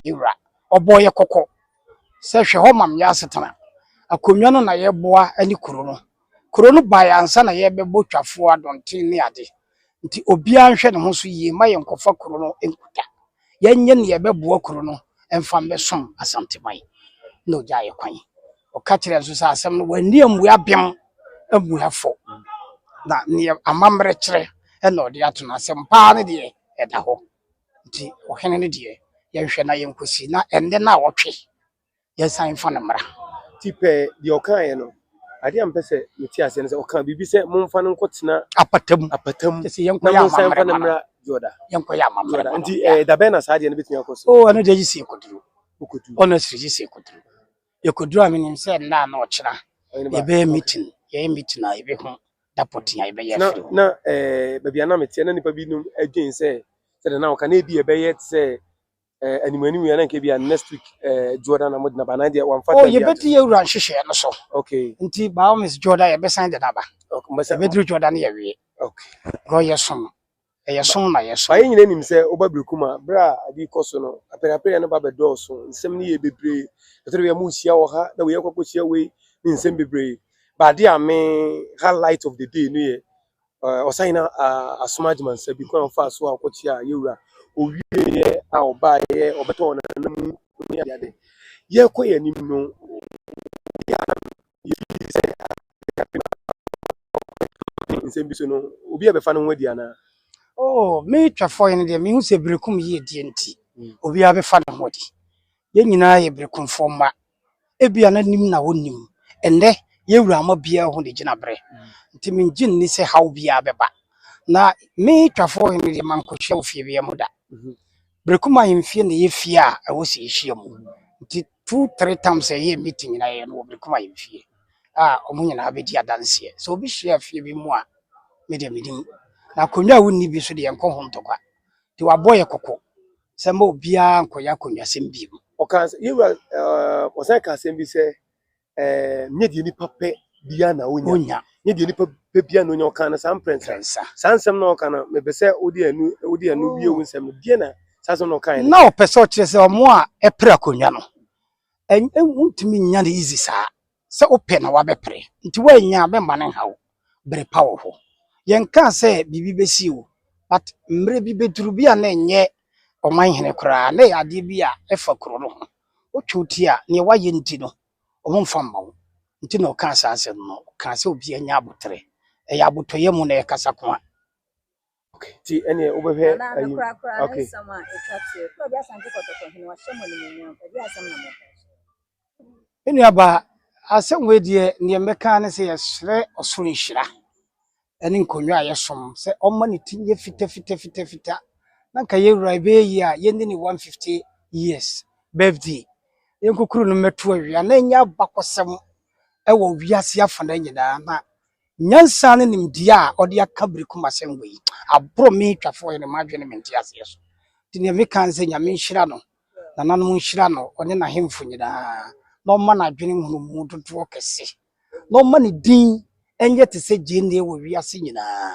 Yɛn Wura, ɔbɔɔ yɛn kɔkɔ sɛ, Hwɛ hɔ ma me asetena. Akonnwa no na yɛboa ne kuro no. Kuro no baeɛ ansa na yɛrebɛbɔ twafoɔ, adɔnten ne ade. Nti obiara nhwɛ ne ho so yie mma yɛnkɔfa kuro no nkuta. yɛnyɛ nea ɛbɛboa kuro no mfa mmɛsom Asanteman na ɔgyaa yɛ kwan. Ɔka kyerɛɛ nso sɛ asɛm no wanni ammua bem ammua fɔ na nea amammerɛ kyerɛ na ɔde ato no asɛm paa no deɛ ɛda hɔ nti ɔhene no deɛ yɛnhwɛ na yɛnkɔsi na ɛnnɛ na ɔtwe yɛnsan mfa no mmra. Ti pɛɛ deɛ ɔkaeɛ no, adeɛ a mpɛ sɛ mete aseɛ no sɛ ɔka biribi sɛ momfa no nkɔtena apata mu apata mu sɛ yɛnkɔ yɛ amammerɛ mfa no mmra Jordan yɛnkɔ yɛ amammerɛ Jordan nti ɛɛ da bɛn na saa adeɛ no bɛtumi akɔ so o ɛno deɛ gye sɛ yɛkɔduru wokɔduru honestly gye sɛ yɛkɔduru yɛkɔduru a menim sɛ nna na ɔkyena yɛbɛyɛ meeting yɛyɛ meeting a yɛbɛhu da pɔten a yɛbɛyɛ na na ɛɛ baabi a na meteɛ na nnipa binom adwen sɛ sɛ de na ɔka na ebi yɛbɛyɛ te sɛ Eh, anim anim yɛ na nka bia next week eh, Jordan na modena ba na deɛ wamfa oh, yɛbɛdi yɛ wura nhyehyɛɛ no so okay nti by all means Jordan yɛbɛsan de naba ɛbɛduru Jordan yɛwie okay na ɔyɛ som ɛyɛ som na yɛ som ayɛ nyina nim sɛ woba biriku ma berɛ a ade kɔ so no apɛrɛapɛrɛ no ba bɛdɔɔso nsɛm no yɛ bebree ɛtɔre yɛ mo hyia wɔ ha na woyɛ kɔkɔ hyia wei ne nsɛm bebree baade a me highlight of the day no yɛ Eh, ɔsan nyina ah, asom agyemansa bi kwan a ɔfaa so a ɔkɔkyeaa yɛ wura owieɛ a ɔbaeɛ ɔbɛtɔɔ nana mu ne adeade yɛkɔ yɛ anim no yɛfii sɛ nsɛm bi so no obi a bɛfa no ho adi anaa Oh, me twɛfoɔ yi no deɛ mehu sɛ berekum yie deɛ nti obiara bɛfa ne ho adi yɛn nyinaa yɛ berekumfoɔ mma Ebia na nim na wonnim. Ɛnnɛ, yɛn wura mma biara hu ne gyinabre. Enti migye nni sɛ haw biara bɛba. Na me Twafoɔ Hene deɛ, mankohyia wo fie biara mu da. Brekum Ahemfie na ɛyɛ fie a ɛwɔ sɛ yɛhyia mu. Nti two three times a yɛyɛ meeting nyinaa yɛyɛ no wɔ Brekum Ahemfie a wɔn nyinaa bɛdi adanseɛ. Sɛ obi hyia fie bi mu a, me deɛ menim. Na akonnwa a wonni bi nso deɛ, yɛnkɔ ho ntɔkwa. Nti wɔabɔ yɛn kɔkɔ. sɛ mma obiara nkɔyɛ akonnwasɛm bio. Ɔkaa sɛ, yɛn wura, eh, ɔsan kaa asɛm bi sɛ, eh, nyɛ deɛ nipa pɛ biara na onya. Onya. Nyɛ deɛ nipa pɛ biara na onya. Ɔkaa no saa mprɛnsa. Mprɛnsa. Saa nsɛm na ɔka no, mepɛ sɛ wode ɛno, wode ɛno wie wo nsɛm no. Deɛ na saa nsɛm na ɔkaeɛ no. Na ɔpɛ sɛ ɔkyerɛ sɛ wɔn a ɛpere akonnwa no, ɛnyɛ, wontumi nnya no easy saa. sɛ wopɛ na wabɛpere nti woannya a mɛmma no nhaw bere pa wɔ hɔ yɛnkaa sɛ biribi bɛsi o but mmerɛ bi bɛduru bi a na ɛnyɛ ɔman hene koraa na ɛyɛ adeɛ bi a ɛfa kuro no ho wotwe wo ti a neɛ woayɛ nti no ɔmo mfa mma wo nti na ɔkaa saa asɛm no ɔkaa sɛ obiara nya aboterɛ ɛyɛ abotɔyɛ mu na ɛkasa ko a. Okay, ti ɛne wobɛhwɛ ayi. Okay. Nnuaba asɛm wei deɛ nea mmɛka ne sɛ yɛsrɛ ɔsoro nhyira ɛne nkonnwa a yɛsom sɛ ɔmma ne ti nyɛ fita fita fita fita na nka yɛwura ɛbɛyɛ yie a yɛnni ne 150 years birthday yɛnkokuru no mmɛto awia na ɛnyɛ abakɔsɛm ɛwɔ wiase afana nyinaa na Nyansa ne nimdeɛ a ɔde aka bere ko mu asɛm wɔ yi aboro me twafoɔ yere m'adwene ne me nteaseɛ so. Nti deɛ meka ne sɛ Nyame nhyira no, nananom nhyira no, ɔne n'ahemfo nyinaa, na ɔmma n'adwene nhunumu dodoɔ kɛse, na ɔmma ne din nyɛ te sɛ gyeene wɔ wiase nyinaa.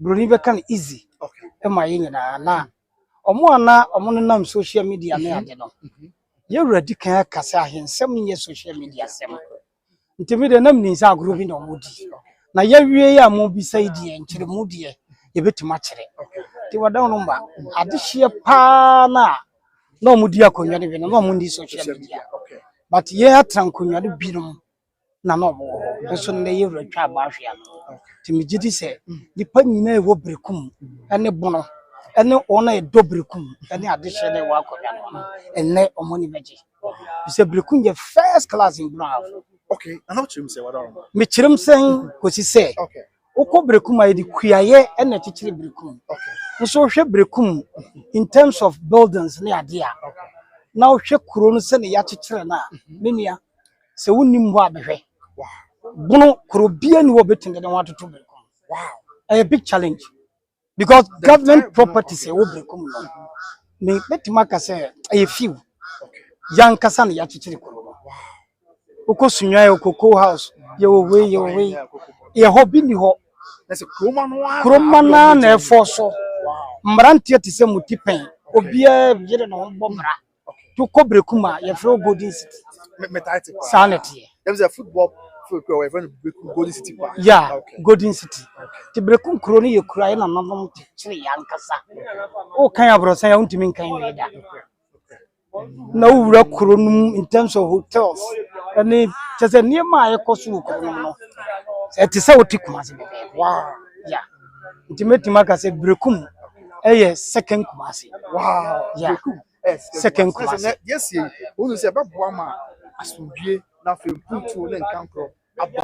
Broni bɛka no easy ma yɛn nyinaa na wɔn a na wɔnenam social media ne ade no, yɛn wura di kan aka sɛ ahensɛm nyɛ social media sɛm. Nti me deɛ na menim sɛ agorɔ bi na wɔdi. Na yɛawie yɛ a mobisa yi deɛ nkyerɛmu deɛ yɛbɛtumi akyerɛ. Nti wɔda no mma adehyeɛ paa no a na wɔdi akonnwa no bi no na wɔnni social media. But yɛn atena nkonnwa no binom na na ɔwɔ hɔ nso nnɛ yɛ wura twa abɔ ahwea no nti megye di sɛ nipa nyinaa ɛwɔ berekum ne bono ne wɔn a ɛdɔ berekum ne adehyeɛ na ɛwɔ akonnwa no ano ɛnnɛ wɔn ani bɛgye sɛ berekum yɛ first class in bono have okay na how kyerɛ mu sɛ wadɔrɔ ma mekyerɛ mu sɛ kɔsi sɛ okay wokɔ berekum a yɛde kuayɛ ɛna ɛkyekyere berekum okay nso wohwɛ berekum in terms of buildings ne adeɛ a na wohwɛ kuro no sɛ ne yɛakyekyere no a menua Sɛ wonni mmoa a bɛhwɛ. Bono koro biara ni hɔ a obetumi de ne ho atoto Berekum. Ɛyɛ big challenge because government properties a ɛwɔ Berekum no, me mɛtumi aka sɛ ɛyɛ few. Yankasa na yɛakyekyere kuro no. Wokɔ Sunyani yɛwɔ Cocoa House, yɛwɔ wei yɛwɔ wei. Yɛ hɔ bi ni hɔ. Kuroma no ara na ɛfɔ so. Mmeranteɛ te sɛ mutipɛn. Obiara yere ne ho bɔ mmara. To kɔ Brekum a, yɛfrɛ wo Golden City. Me metaa te paa. Saa na ɛteɛ. Ɛmu sɛ football field kura wɔyɛ fɛn no Brekum Golden City paa. Yeah, okay. Golden City. Okay. Te Brekum kuro no yɛ kuro a yɛ nananom te kyerɛ yɛ ankasa. O kan aborɔsan a wontumi nkan wie da. Na wowura kuro no mu in terms of hotels. Ɛne kyɛ sɛ nneɛma a ɛkɔ so wɔ kuro no no. Ɛte sɛ wote Kumasi bɛbɛɛbɛ. Wow. Yeah. nti mɛtumi aka sɛ Berekum yɛ second Kumasi. Wow, yeah. Berekum yɛ second Kumasi. Sɛ yɛsi yi, wɔn sɛ ɛbɛboa ma asomdwie na afei mpuntuo ne nkankorɔ aba.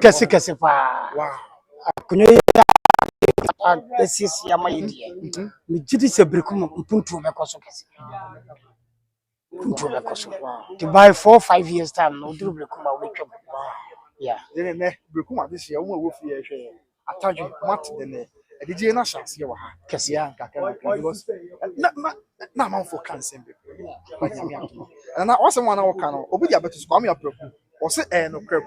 Kɛse kɛse paa. Wow. Akonnwa yi asiesie ama yɛ deɛ. Megye di sɛ Berekum mpuntuo bɛkɔ so kɛse. Ntu bɛ kɔ so. Ti by four five years time no oduru bere kuma obi twam. Yeah. Yɛn nɛ bere kuma de hyɛ wɔn a wɔfi yɛ hwɛ atadwe mat de ne adigye na hyɛ aseɛ wɔ ha. Kɛse a nka kan kan because na na na amanfo kan sɛm bɛ. Ba nyame ato. Na na wɔsɛm wɔn na wɔka no obi de abeto so kwame apreku. Wɔse ɛɛ no krɛ.